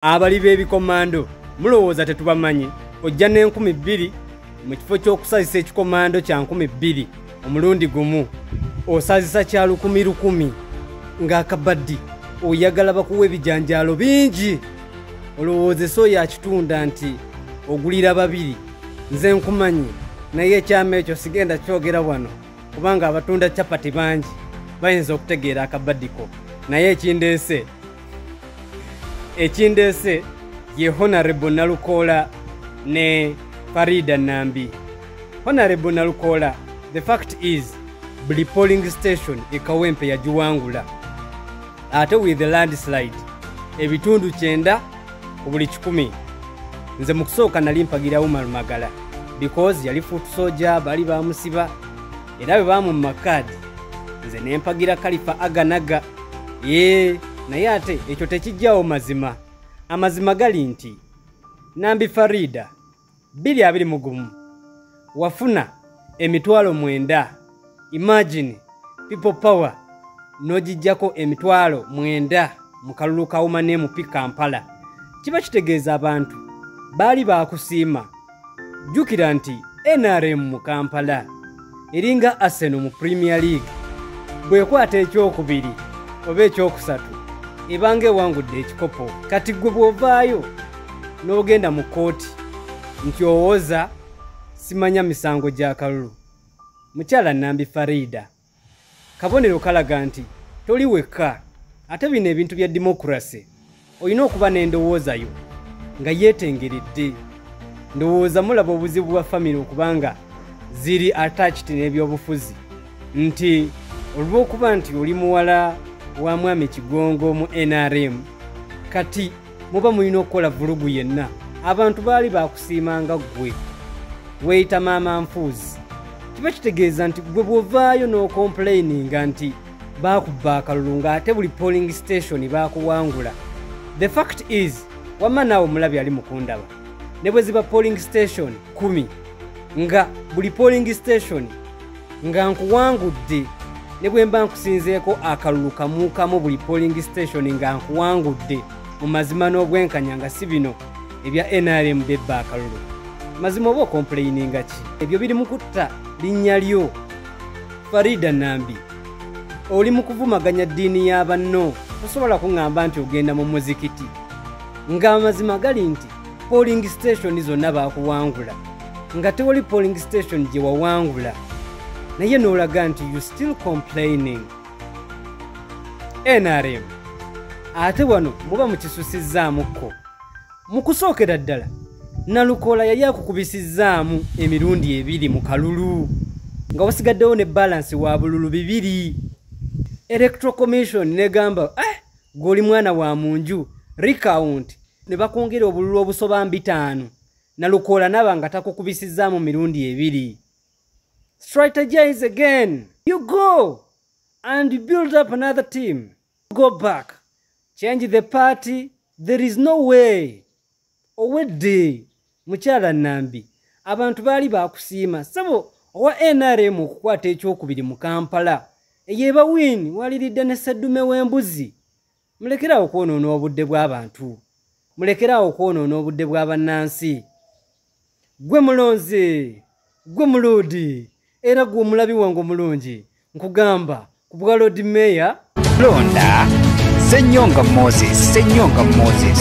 abali b'ebikomando mulowooza tetubamanyi ojja n'enkumi bbiri mu kifo ky'okusazisa ekikomando kya nkumi bbiri omulundi gumu osazisa kya lukumi lukumi ng'akabaddi oyagala bakuwa ebijanjaalo bingi olowoozesa oyo akitunda nti ogulira babiri nze nkumanyi naye ekyama ekyo sigenda kyogera wano kubanga abatunda capati bangi bayinza okutegeera akabaddiko naye ekindeese ekindeese ye honarebo nalukoola ne farida nambi honarebo nalukoola the fact is buli polling station ekawempe yagiwangula ate with the landslide ebitundu kyenda ku buli kikumi nze mu kusooka nali mpagira umar magala because yali futusoja bali bamusiba era bwe baamumma kaadi nze ne mpagira kalifa aganaga ee naye ate ekyo tekijjawo mazima amazima gali nti nambi farida bbiri abiri mu gumu wafuna emitwalo mwenda imagine people power n'ogijjako emitwalo mwenda mu kalulu ka womanemu pi kampala kiba kitegeeza abantu baali baakusiima jjukira nti nrm mu kampala eringa arsenal mu premier league bwekwata ekyokubiri oba ekyokusatu ebanga ewangudde ekikopo kati gwe bw'ovaayo n'ogenda mu kkooti nti owoza simanya misango gya kalulu mukyala nambi farida kabonero kalaga nti toli wekka ate bino ebintu bya demokurase olina okuba n'endowoozayo nga yeetengeredde ndowooza mulaba obuzibu bwa famire okubanga ziri attached n'ebyobufuzi nti olw'okuba nti oli muwala wa mwami kigongo mu nrm kati muba mulina okukola vulugu yenna abantu baali baakusiima nga ggwe weeyita maama nfuuzi kiba kitegeeza nti ggwe bw'ovaayo n'okompuleyininga nti baakubba akalulu ng'ate buli polling station baakuwangula the fact is wamma naawe omulabi ali mukundaba ne bwe ziba polling station kumi nga buli polling station nga nkuwangudde ne bwe mba nkusinzeeko akalulu kamuukamu buli polling station nga nkuwangudde mu mazima n'obwenkanya nga si bino ebya nrm bebba akalulu mazima oba okompuleyininga ki ebyo biri mu kutta linnya lyo farida nambi oli mu kuvumaganya ddiini ya banno tosobola kuŋŋamba nti ogenda mu muzikiti ng'amazima gali nti polling station zonna baakuwangula nga tewali polling station gye wawangula naye n'olaga nti you still complaining nrm ate wano muba mukisusizaamukko mu kusookera ddala nalukoola yali akukubisizzaamu emirundi ebiri mu kalulu nga wasigaddewo ne balansi wa bululu bibiri electro commission negamba eh, gweoli mwana wa mu nju recount ne bakwongera obululu obusoba mbitaano nalukoola naba nga takukubisizzaamu mirundi ebiri strategize again you go and build up another team go back change the party there is no way owedde mukyala nambi abantu baali bakusiima sabo owa nrm okukwata ekyokubiri mu kampala eyo ebawini waliridde ne sseddume w'embuzi mulekeraawo okwonoona obudde bw'abantu mulekeraawo okwonoona obudde bw'abannansi gwe mulonzi gwe muluudi era gwe omulabi wange omulungi nkugamba ku bwa lodi meeya londa senyonga moses senyonga moses